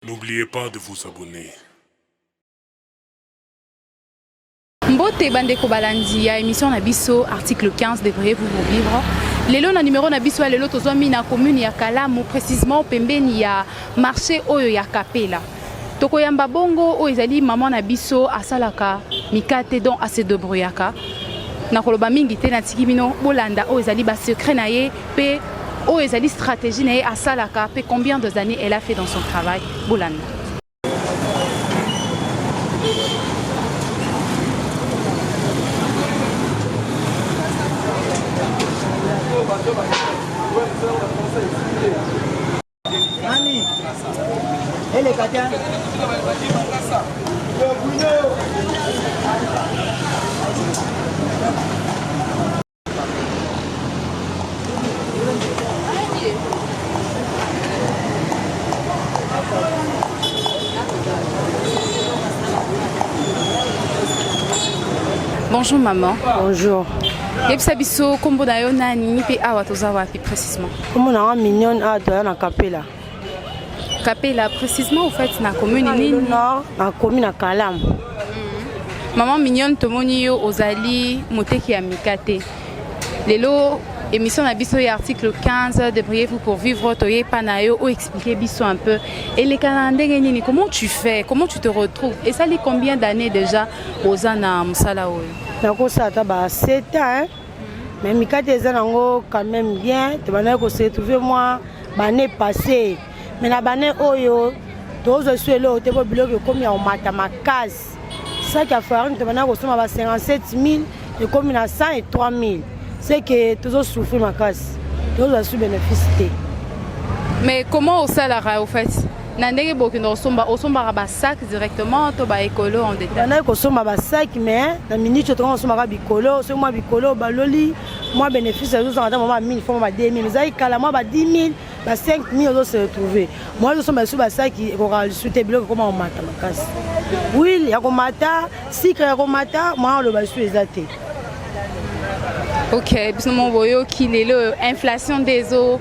N'oubliez pas de vous abonner. Mbote bandeko balandi ya émission na biso article 15 devriez vous vous vivre lelo na numéro na biso ya lelo tozwami na commune ya Kalamu précisément pembeni ya marché oyo ya Kapela tokoyamba bongo oyo ezali maman na biso asalaka mikate donc ase debrouillaka nakoloba mingi te natiki bino bolanda oyo ezali ba secret na ye Pe oyo ezali stratégie na ye asalaka pe combien des années elle a fait dans son travail bolanda Bonjour maman. Bonjour. yebisa biso nkombo na yo nani mpe awa toza wapi précisement nkombo na nga mignone awa toya na kapela Kapela, précisément au fait, na commune nini? Nord, na commune na Kalam. Mm -hmm. Maman mignonne, tomoni yo ozali moteki ya mikate. Lelo émission na biso ya article 15 débrouillez-vous pour vivre toye pa na yo o expliquer biso un peu eleka na ndenge nini comment tu fais comment tu te retrouves esali combien d'années déjà oza na mosala oyo nakosala ata ba 7 ans mais mikate eza nango quand même bien tobandaki kose retrouve mwa bane passé mais na bane oyo tozwa esu eloko te mpo biloko ekomi ya komata makasi saki ya farine tobandaki kosomba ba 57 000 ekomi na 100 et 3 000 c'est que tozosouffrir makasi tozwa su bénéfice te mais comment osalaka au fait na ndenge bokenda kosomba osombaka basac directement to baekolo en détail bandaki kosomba basac mais na minute tokanga kosombaka bikolo soki mwa bikolo baloli mwa bénéfice ezozanga ata mwa ba 1000 fo mwa ba 2000 ezalaki kala mwa ba 10000 ba 5000 ozo se retrouver mwa ezosomba lisusu basaki ekokaka lisusu te biloko ekoma komata makasi huile ya komata sikre ya komata mwa aloba lisusu eza te ok biso mo boyoki lelo inflation nde ezo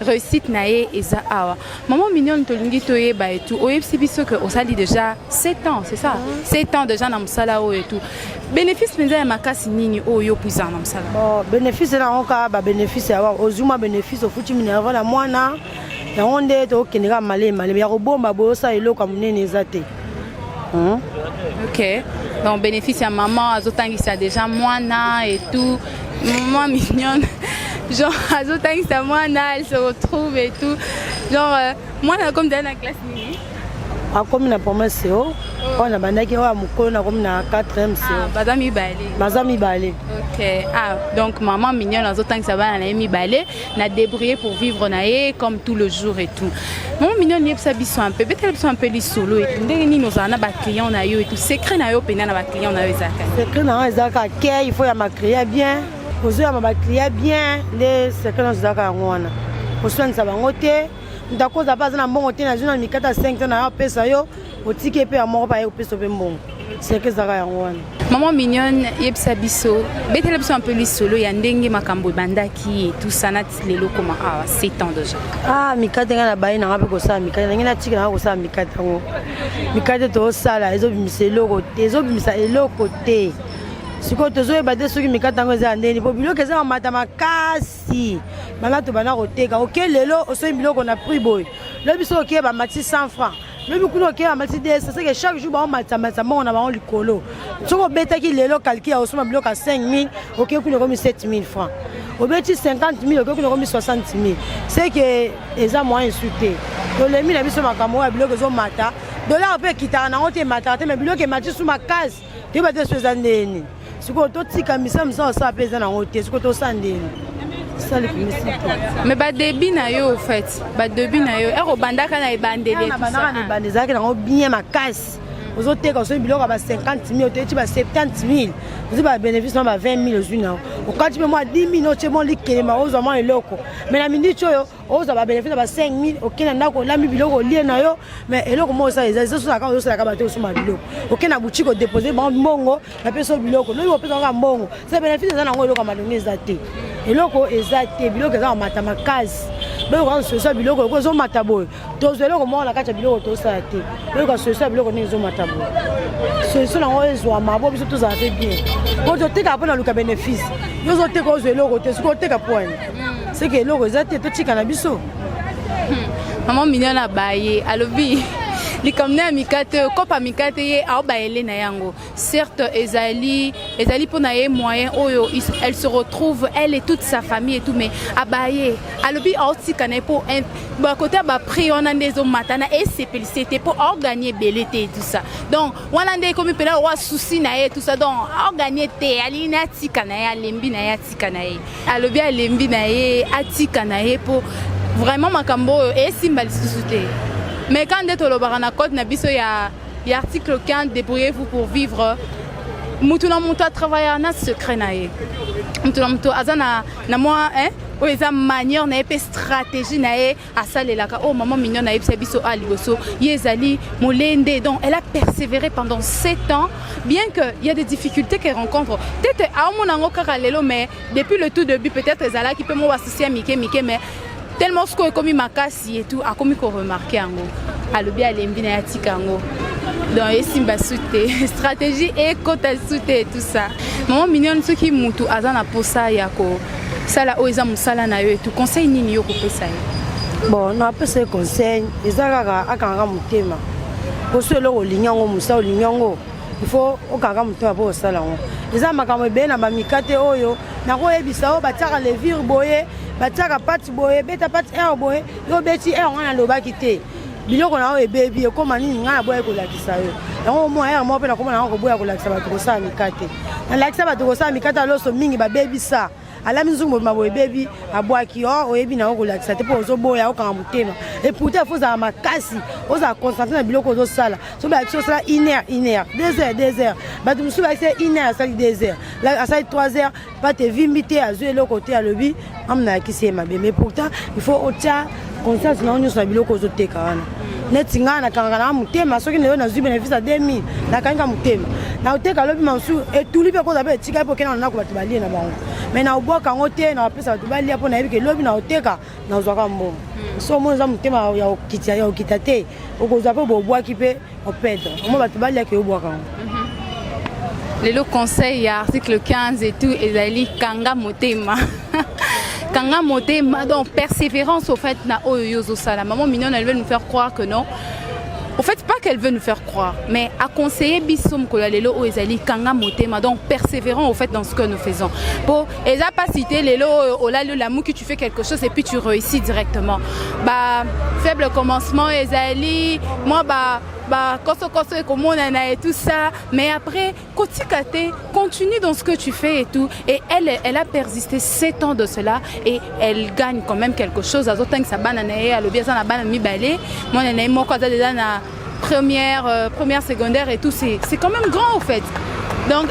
Réussite na ye eza awa. Maman mignonne tolingi toyeba et tout. Oyebisi biso que osali déjà 7 ans, c'est ça 7 ans déjà na mosala oyo et tout. Bénéfice mpenza ya makasi nini oyo yo puisa na mosala? Bon, bénéfice na yango kaka ba bénéfice ya wa ozwi mwa bénéfice ofuti minerva na mwana yango nde tokokende kaka malemi malemi ya kobomba boye osala eloko ya monene eza te Hein? Ok. Donc bénéfice à maman, azotangisa déjà mwana et tout. Maman mignonne. Genre azotangisa mwana, elle se retrouve et tout. Genre euh, mwana comme dans la classe nini? akomi na premier seo oyo nabandaki oyo ya mokolo nakomi na 4 seo baza mibale baza mibale ok ah donc maman mignone azotangisa bana na ye mibale na débrouiller pour vivre na ye comme tout le jour et tout mama mignon yebisa biso un peu betela biso un peu lisolo et ndenge nini ozala na baclient na yo et tout secret na yo mpenza na baclient na yo ezalaka secret na nga ezalaka ke il faut ya macria bien ozoyama baclia bien nde secret na ozalaka yango wana oswanisa bango te moto akozala mpe aza na mbongo te nazwi na mikata 5 to na yo apesa yo otiki ye mpe ya moko baye kopesa mpe mbongo seke ezalaka yango wana maman mignone yebisa biso betela biso mpe lisolo ya ndenge makambo ebandaki etusa nati lelo koma awa ah, sept ans déjà ah mikate ngai na baye nanga mpe kosala mikate nange natika nanga kosala mikate yango mikate toosala ezobimisa eloko te ezobimisa eloko te sikoyo tozoyeba te soki mikate yango eza ya ndeni mpo biloko eza mamata makasi bana tobanda koteka oke lelo osoyi biloko na prix boye lobi soki okeye bamati 100 francs lobi kuna okei na mercedes seke chaque jour baomatisa matisa mbongo na bango likolo soki obetaki lelo kalki ya osomba biloko ya 5000 okei kuna ekomi 7000 franc obeti 50000 okei kuna ekomi 60000 seke eza moyen esu te tolemi na biso makambo oyo ya biloko ezomata dolare mpe ekitaka nango te emataka te mai biloko emati su makasi toyeba te so eza ndeni sikoyo totika misala misala osala mpe eza nango te sikoyo tosala ndeni mais badebi na yo ofait badebi na yo ekobandaka na ebandeli ezalaki nango bien makasi ozoteka osoi biloko ya ba 50 mille oteki ba 70 mille ozwi ba bénéfice na ba 20 mille ozwi na yo okati mpe mwa 10 mille otie mwa likelema ozwa mwa eloko mai na miniti oyo ozwa babenefice ya ba 5000 okei na ndako olambi biloko olie na yo mais eloko moko osala eza ezosalaka ozosalaka bato osomba biloko okei na boutique odepose bango mbongo bapesa biloko noki opesa kaka mbongo se benefice eza na yango eloko ya malongi eza te eloko eza te biloko eza komata makasi boyoka solution ya biloko oko ezomata boye tozwa eloko moko na kati ya biloko tosala te boyoka solution ya biloko ndenge ezomata boye solution yango ezwama bo biso tozala mpe bien po totekaka mpo na luka benefice yo ozoteka ozwa eloko te soki oteka poani seke eloko eza te totika na biso hmm. mama minio na baye alobi likambo na ya mikate oyo kopa mikate ye aobayele na yango certes ezali ezali mpo na ye moyen oyo elle se retrouve elle et toute sa famille et tout mais abaye alobi aotika na ye mpo bakote ya baprix wana nde ezomata na esepelise te mpo aoganye ebele te tout ça donc wana nde ekomi mpena owa souci na ye tout ça donc aoganye te alingi na ye atika na ye alembi na ye atika atika na ye alobi alembi na ye atika na ye mpo vraiment makambo oyo esimba lisusu te mais quand nde tolobaka na code na biso ya, ya article 15 débrouillez-vous pour vivre mutu na mutu atravaillaka na secret na ye mutu na mutu aza na, na mwa eh? oyo eza manière na ye mpe stratégie na ye asalelaka oyo oh, maman mignonne ayebisa biso a ah, liboso ye ezali molende donc elle a persévéré pendant 7 ans bien que il y a des difficultés qu'elle rencontre peut-être aomona yango kaka lelo mais depuis le tout début peut-être ezalaki mpe mwa basusi ya mike mike mais tellement sikoyo ekomi makasi etout akomi koremarke yango alobi alembi na ye atika yango donc esimba su te stratégie ekota su te tout ça maman mignonne soki motu aza na mposa ya ko sala oyo eza mosala na yo etu conseil nini yo kopesa ye bon napesa ye conseil eza kaka akangaka motema poso eloko olingi yango mosala olingi yango ifo okangaka motema mpo osala yango eza makambo ebele na bamikate oyo nakoyebisa oyo batiaka levire boye batiaka pati boye beta pati r boye yo obeti r wana alobaki te biloko na yo ebebi ekoma nini ngai naboyaki kolakisa yo yango moi ayaka moko mpe nakoma na yango koboya kolakisa bato kosala mikate nalakisa bato kosala mikate ya loso mingi babebisa alami nzungu mobima boye ebebi abwaki o oh, oyebi na yo kolakisa te mpo ozoboya okanga motema eputa fo ozala makasi ozala concentre na biloko ozosala so balakisi osala une heure une heure deux heures deux heures bato mosusu balakisi une heure asali deux heures asali trois heures pate evimbi te azwi eloko te alobi amna yakisi ye mabe mais pourtant il faut otya conscience na yo nyonso na biloko ozoteka wana neti ngai nakangaka nanga motema soki nayo nazwi bénéfice ya 2000 nakangika motema nakoteka lobi masusu etuli mpe koza mpe etika mpe okenda na ndako bato balie na bango mai nakobwaka yango te nakopesa bato balia mpo nayebi ke lobi nakoteka nazwaka mbongo hmm. so omoni oza motema ya okita ya okita te okozwa mpe bobwaki mpe opedre omo bato baliaki obwaka yango mhm. lelo conseil ya article 15 et tout ezali kanga motema kanga motema donc persévérance au fait na oyo yo ozosala maman mignonne elle veut nous faire croire que non au fait pas qu'elle veut nous faire croire mais à conseiller biso mokolo ya lelo oyo ezali kanga motema donc persévérant au fait dans ce que nous faisons po eza pasi te lelo oyo olali olamuki tu fais quelque chose et puis tu réussis directement ba faible commencement ezali mwa ba bakosokoso ekomonana et tout ça mais après kotika te continue dans ce que tu fais et tout et elle elle a persisté 7 ans de cela et elle gagne quand même quelque chose azotangisa bana na ye alobi aza na bana mibale mwana na ye moko aza deja na Première, euh, première secondaire et tout, c'est quand même grand au fait. Donc,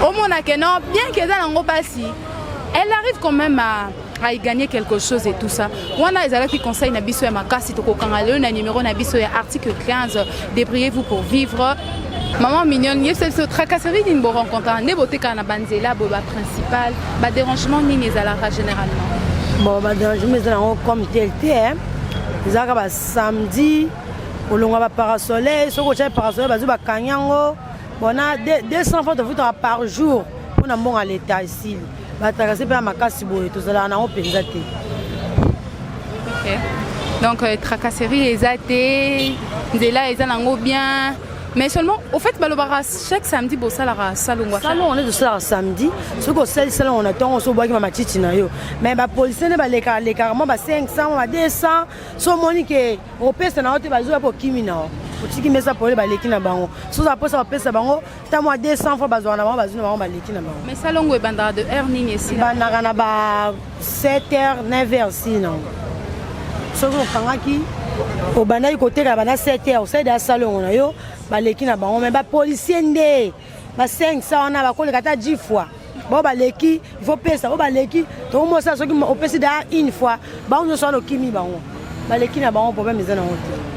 au Monaco, non, bien qu'elle ait un passi, elle arrive quand même à, à y gagner quelque chose et tout ça. Wana ezalaki conseil na biso ya makasi tokokanga lelo na numéro na biso ya article 15 débrouillez-vous pour vivre maman mignonne yebisa biso tracasserie nini borencontra nde botekaka na banzela boye baprincipal badérangement nini ezalaka généralement bon badérangement ezala yango comme tel te ezalaka basamedi kolonga ba parasoleil soki otya parasoleil bazwi bakangi yango bona 200 fois tofutaka par jour mpo na mbongo ya leta esili batrakase mpe ya makasi boye tozalaka nango mpenza te donc euh, tracasserie eza te nzela eza nango bien mais seulement au fait balobaka chaque samedi bosalaka salongo salongo nde tosalaka samedi soki osali salongo na ntongo oso obwaki ma matiti na yo mais bapolisie nde balekalekaka mwa ba 500 mwa ba 200 so omoni ke opesa na yo te bazwi yapo okimi na yo otiki mesa pole baleki na bango so oza mposa bapesa bango ta mwa 200 fois bazwaka na bango bazwi na bango baleki na bango mais salongo ebandaka de heure nini esiebandaka na ba 7 heures 9 heures si nango soki okangaki obandaki koteka banda 7 heures osalida ya salongo na yo baleki na bango mai bapolisier nde ba 500 wana bakoleka ata 10 fois bao baleki ifo pesa bao baleki tokomosa soki opesi daa une fois bango nyonso wana okimi bango baleki na bango problème eza nango te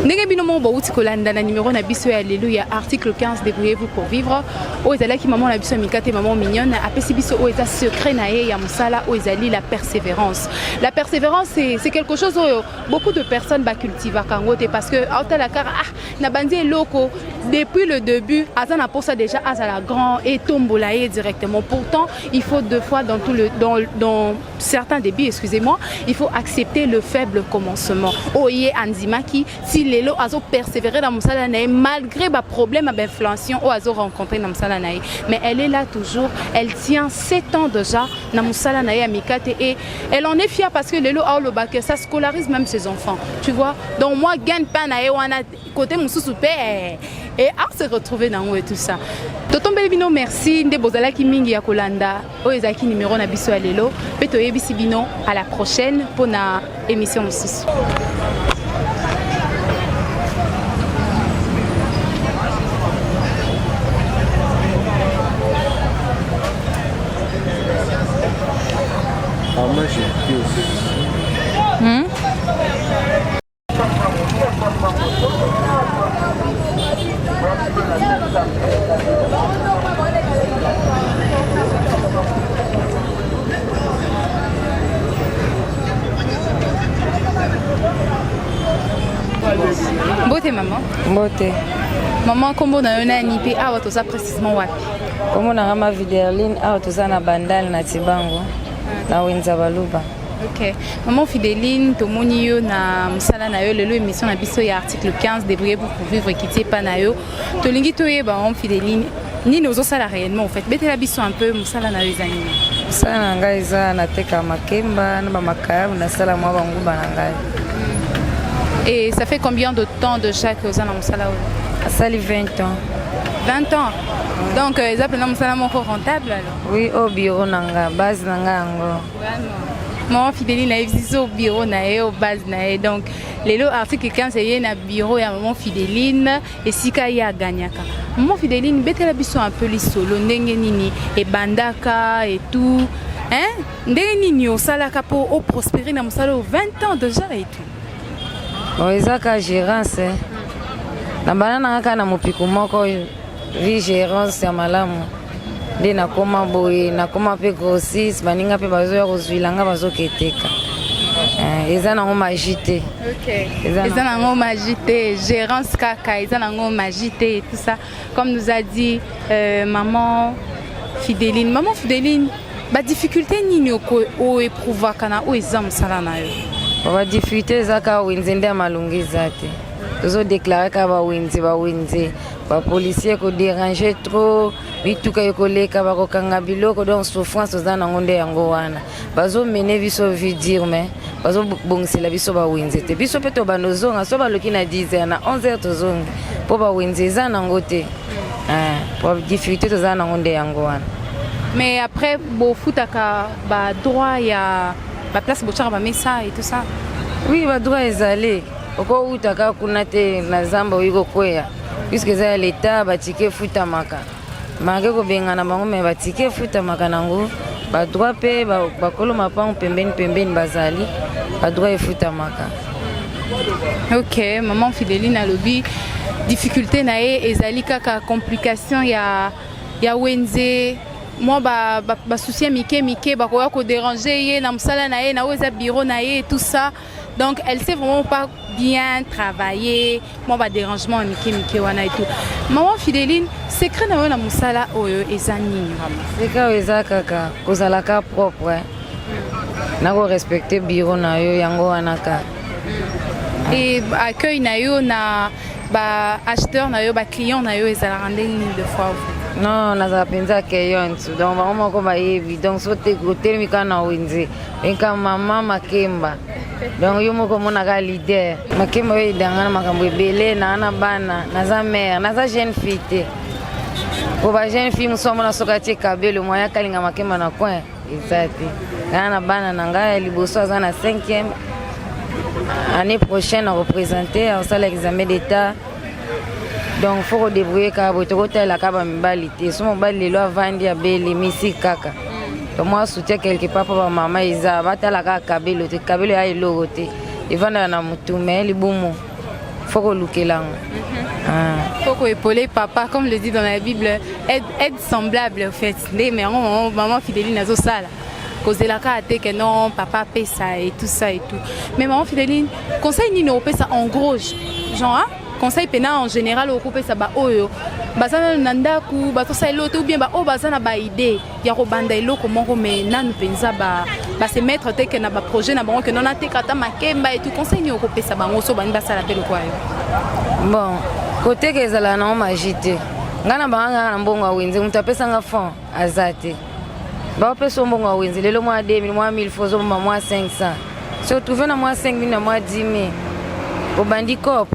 ndenge bino moko bouti kolanda na numero na biso ya lelo ya article 15 débrouillez-vous pour vivre oyo ezalaki mama na biso ya mikate mama mignonne apesi biso oyo eza secret na ye ya mosala oyo ezali la persévérance la persévérance c'est quelque chose oyo beaucoup de personnes bacultivaka yango te parce que aotala kaka ah na banzi eloko depuis le début aza na posa déjà azala grand et tombola ye directement pourtant il faut deux fois dans tout le dans, dans certains débuts excusez-moi il faut accepter le faible commencement oye andimaki ti lelo azo persévérer na mosala na ye malgré ba problème ya bainfluencion oyo azo rencontrer na mosala na ye mais elle est là toujours elle tient 7 ans déjà na mosala na ye ya mikate et Elle en est fière parce que Lelo Aoloba que ça scolarise même ses enfants. Tu vois Donc moi, gagne pas na ewana côté mususu pe eh, et à se retrouver dans et tout ça. totombeli bino merci nde bozalaki mingi ya kolanda oyo ezalaki numero na biso ya lelo mpe toyebisi bino à la prochaine mpo na émission mosusu Mbote maman. Mbote. Maman kombo na yo nani pe awa toza précisément wapi? Kombo na nga ma Viderline awa toza na bandal na Tibango na Wenza Baluba. Ok. Maman Fideline, tomoni yo na musala na yo lelo émission na biso ya article 15 débrouiller pour vivre qui t'est pas na yo. Tolingi toyeba maman Fideline, nini ozosala réellement en fait? Betela biso un peu musala na yo eza nini? Musala na ngai eza nateka makemba na bamakayabu nasala mwa banguba na ngai. Et ça fait combien de temps déjà que oza na musala oyo? Asali 20 ans. 20 ans Donc euh, eza pena musala moko rentable alors Oui, au bureau na nga, base na nga yango. Maman Fideli na yebisi au bureau na ye au base na ye donc lelo article 15 eye na bureau ya maman Fideline esika ye aganyaka. Maman Fideline betela biso un peu lisolo ndenge nini ebandaka et tout hein ndenge nini osalaka mpo oprospere na mosala oyo 20 ans déjà et tout Bon, eza ka gerance eh. na bana nanga kaka na mopiku moko vi gerance ya malamu nde nakoma boye nakoma mpe grossis baninga mpe bazoya kozwila nga bazoketeka eh, eza nango magi te eza nango magi te gerance kaka eza nango magi te tout ça Comme nous a dit euh, maman Fideline, maman Fideline, ba difficulté nini o éprouva kana o eza musala na yo? Ba difficulté eza ka wenze nde malunga eza te. Tozo déclarer ka ba wenze ba wenze ba policier ko déranger trop mituka ekoleka bakokanga biloko donc souffrance oza nango nde yango wana bazo mene biso vie dire mais bazo bongisela biso ba wenze te biso pe to bando zonga so baloki na 10h na 11h tozongi po ba wenze eza nango te eh po difficulté toza nango nde yango wana mais après bofutaka ba droit ya ba place bochaka ba mesa et tout ça oui ba droit ezali okowutaka kuna te na zamba oyi kokweya puisque eza ya leta batike efutamaka Make kobengana bango me batike efutamaka nango badroit mpe bakolo mapango pembeni pembeni bazali badroit efutamaka. Ok, maman Fideline alobi difficulté na ye ezali kaka complication ya, ya wenze mwa basusi ba, ba ya mike mike bakoya koderange ye na mosala na ye na oyo eza biro na ye tout ça Donc elle sait vraiment pas bien travailler, moi ba dérangement ya mike mike wana et tout. Maman Fideline, secret na yo na musala oyo eza nini vraiment? Secret oyo eza kaka kozala ka propre. Eh. Na ko respecter bureau na yo yango wana ka. Et accueil na yo na ba acheteurs na yo ba clients na yo ezalaka ndenge nini de fois vous? Non, nazala mpenza accueillante donc bango moko bayebi donc so te otelemi kaka na wenze Eka mama Makemba donc yo moko omonaka leader Makemba oyo edanga na makambo ebele naa na bana naza mère naza jeune fille te po ba jeune fille mosusu amona soki atie kabelo moya akalinga Makemba na coin eza te naa na bana na ngai ya liboso aza na 5e année prochaine akopresente akosala examen d'état donc fo kodebrouye kaka boye tokotalela kaka bamibali te so mobali lelo avandi abeli misi kaka tomwa soutien quelque part mpo bamama eza batala kaka kabelo te kabelo ya eloko te evandaka na motu me libumu fo kolukela yango mhm. ah. faut koepole papa comme le dit dans la bible aide, aide semblable au fait nde me yango maman fideli nazosala kozela kaka te ke non papa apesa et tout ça et tout mais maman fideline conseil nini opesa en gros genre hein? conseil mpena en général okopesa baoyo baza nano na ndako batosala eloko te ou bien baoyo baza na baide ya kobanda eloko moko mai nanu mpenza base mettre te ke na baprojet na bango ke nona teka ata makemba etu conseil nini okopesa bango so bani basala mpe lokwa yo bon koteka ezala nango magie te ngai na banga kaka na mbongo ya wenze moto apesanga fond aza te baopesa yo mbongo ya wenze lelo mwa 2000 mwa 1000 fo ozobomba mwa 500 so trouve na mwa 5000 na mwa 10000 obandi cop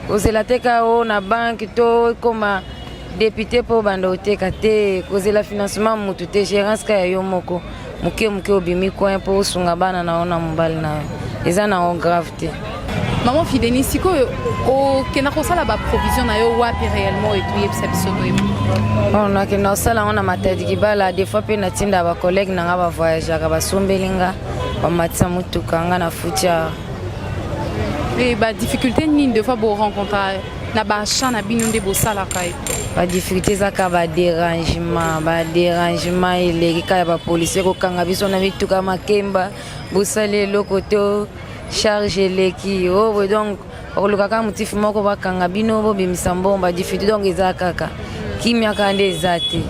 kozela teka o na banke to ekoma depute mpo obanda oteka te kozela financement motu te gérance ka ya yo moko moke moke obimi coin mpo osunga bana na yo na mobali na yo eza na yango grave te maman fideni sikoyo okenda kosala baprovision na yo wapi réellement etoyebisa biso toyebi oh, nakenda kosala yango na matadi kibala des fois mpe natinda bacollègue na nga bavoyageaka basombeli nga bamatisa motuka nga na futia badifficulté nini des fois borencontraka na ba chant na bino nde bosalaka ye ba difficulté eza kaka ba dérangement ba dérangement eleki kaka ya bapolisie kokanga biso na mituka makemba bosali eloko to charge eleki o oh, donc bakoluka kaka motifi moko bakanga bino bobimisa mbongo ba difficulté donc eza kaka kimya kaka nde eza te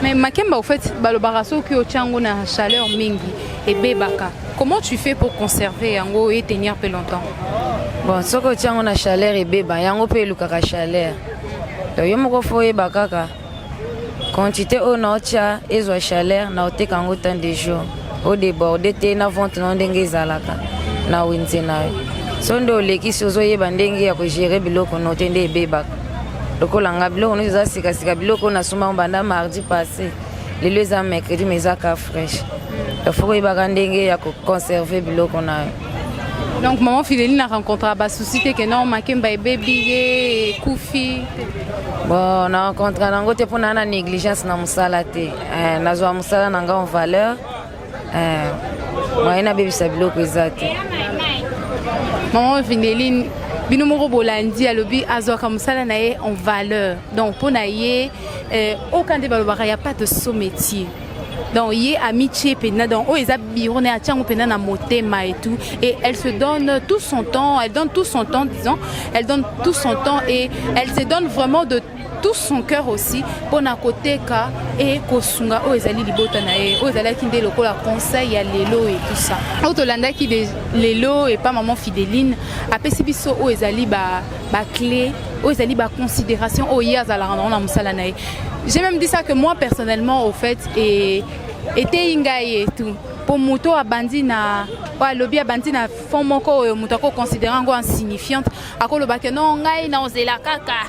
mais makemba au fait balobaka soki otya yango na chaleur mingi ebebaka Comment tu fais pour conserver yango et tenir plus longtemps Bon, soki otie yango na chaleur ebeba, yango mpe elukaka chaleur. Donc yo moko fo oyeba kaka quantité oyo naotya ezwa chaleur naoteka yango temps de jour odeborde te na vente nao ndenge ezalaka na wenze na yo so nde olekisi ozoyeba ndenge ya kogere biloko no te nde ebebaka lokola nga biloko nyonso eza sikasika biloko oyo nasombango banda mardi passe lelo eza mercredi mais eza ka fraîche il faut koyebaka ndenge ya koconserve biloko na yo donc maman fileli na rencontre basusi te ke non makemba ebebi ye ekufi bon na rencontre nango te mpo naa na négligence na mosala te eh, nazwa mosala na ngai en valeur Eh, mwaye nabebisa biloko eza te mama vindeline bino moko bolandi alobi azwaka mosala na ye en valeur donc mpo na ye eh, oka nde balobaka ya pas de so métier donc ye amitie mpenza donc oyo eza biro na ye atya yango mpenza na motema et tout et elle se donne tout son temps elle donne tout son temps disons elle donne tout son temps et elle se donne vraiment de tout son cœur aussi mpo na koteka e kosunga oyo ezali libota na ye oyo ezalaki nde lokola conseil ya lelo e tout ça oyo tolandaki de lelo epa maman fideline apesi biso oyo ezali baclé ba oyo ezali baconsidération oyo ye azalaka nango na mosala na ye j'ai même dit ça que moi personnellement au fait e eteyi ngai e tout mpo moto abandi na oyo alobi abandi na fond moko oyo moto akoconsidere yango insignifiante akolobake no ngai naozela kaka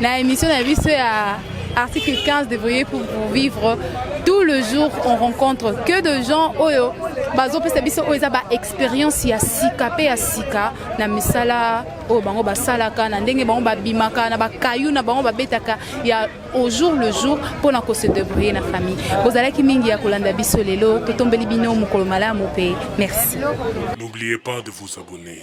Na emission na biso ya article 15 débrouiller pour, pour vivre tout le jour on rencontre que de gens oyo bazopesa biso oyo eza baexpérience ya sika mpe ya sika na misala oyo bango basalaka na ndenge bango babimaka na bakayu na bango babetaka ya au jour le jour mpo na kose débrouiller na famille bozalaki mingi ya kolanda biso lelo totombeli bino mokolo malamu mpe merci n'oubliez pas de vous abonner